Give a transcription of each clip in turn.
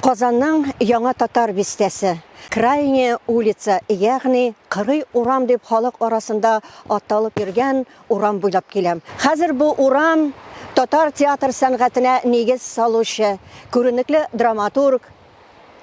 Казанның Яңа Татар бистәсе, Крайняя улица, ягъни Кырый урам дип халык арасында аталып йөргән урам буйлап киләм. Хәзер бу урам татар театр сәнгатенә нигез салучы, күренекле драматург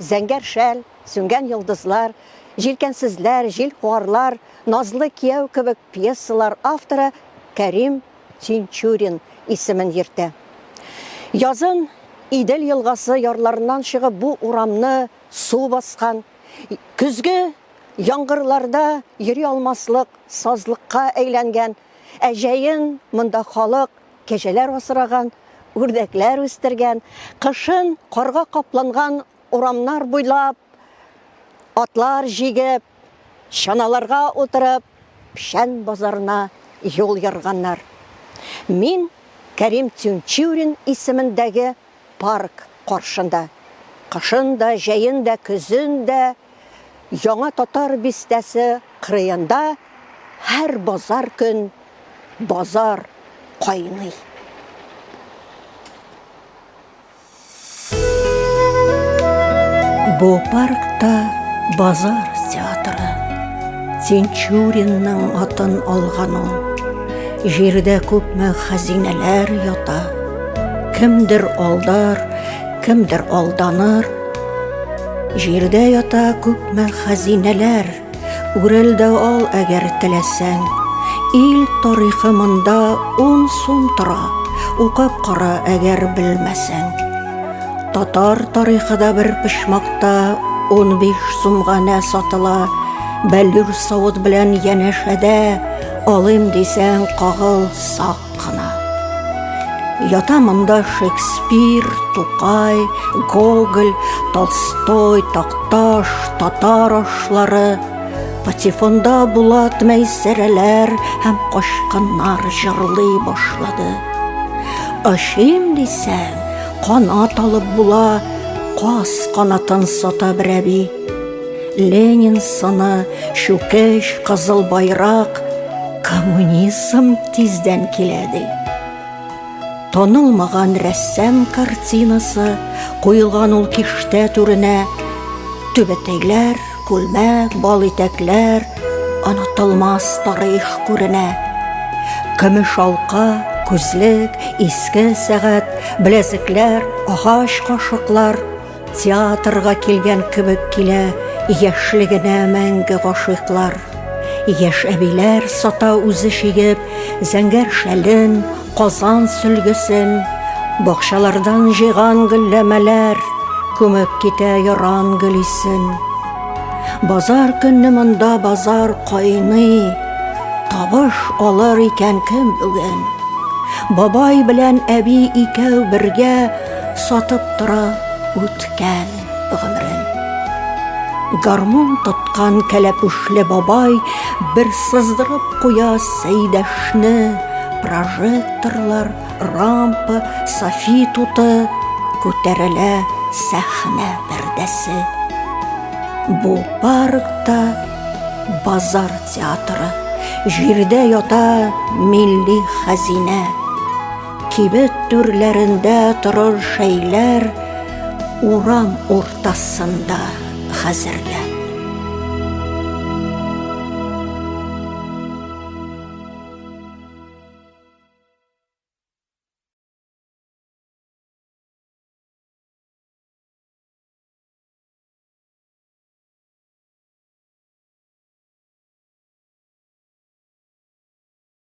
Зәңгәр шәл, Сүнгән йолдызлар, Җилкәнсезләр, Җил куарлар, Назлы кияү кебек пьесалар авторы Кәрим Тинчурин исемен йөртә. Язын Идел елгасы ярларыннан чыгып бу урамны су баскан, көзге яңгырларда йөри алмаслык сазлыкка әйләнгән, ә җәен монда халык кәҗәләр асраган, үрдәкләр үстергән, кышын карга капланган Урамнар буйлап, атлар җигеп, чаналарга утырып, Пшән базарына юл ярганнар. Мин Кәрим Тюнчурин исемендәге парк каршында, кышын да, җәен дә, көзен дә, Яңа татар бистәсе кырыенда һәр базар көн базар кайный. Бу паркта базар театры. Тинчуринның атын алган ул. Җирдә күпме хәзинәләр ята. Кемдер алдар, кемдер алданыр. Җирдә ята күпме хәзинәләр. Үрелде ал әгәр теләсәң. Ил тарихы монда ун сум тора, укып кара әгәр белмәсәң. Татар тарихы да бер пычмакта 15 сумга нә сатыла, бәллүр савыт белән янәшәдә алым дисәң кагыл сак. Гына. Ята монда Шекспир, Тукай, Гоголь, Толстой, Такташ, татар ашлары, патефонда Булат Мәйсәрәләр һәм качканнар җырлый башлады. Ашим дисәң, канат алып була, каз канатын сата берәби. Ленин сыны, чүкеш, кызыл байрак, коммунизм тиздән килә ди. Танылмаган рәссам картинасы куелган ул киштә түренә түбәтәйләр, күлмәк, бал итәкләр, онытылмас тарих күренә. Көмеш алка, күзлек, иске сәгать, беләзекләр, агач кашыклар, Театрга килгән кебек килә Яшьлегенә мәңге гашыйклар. Яшь әбиләр сата үзе чигеп, Зәңгәр шәлен, Казан сөлгесен. Бакчалардан җыйган гөлләмәләр Күмеп китә яран гөл исен. Базар көнне монда базар кайный, Табыш алыр икән кем бүген? Бабай белән әби икәү бергә Сатып тора үткән гомерен. Гармун тоткан кәләпүшле бабай Бер сыздырып куя Сәйдәшне, Прожекторлар, рампа, софи туты, Күтәрелә сәхнә пәрдәсе. Бу паркта базар театры, Җирдә ята милли хәзинә. Кибет түрләрендә торыр шәйләр урам уртасында хәзерләп.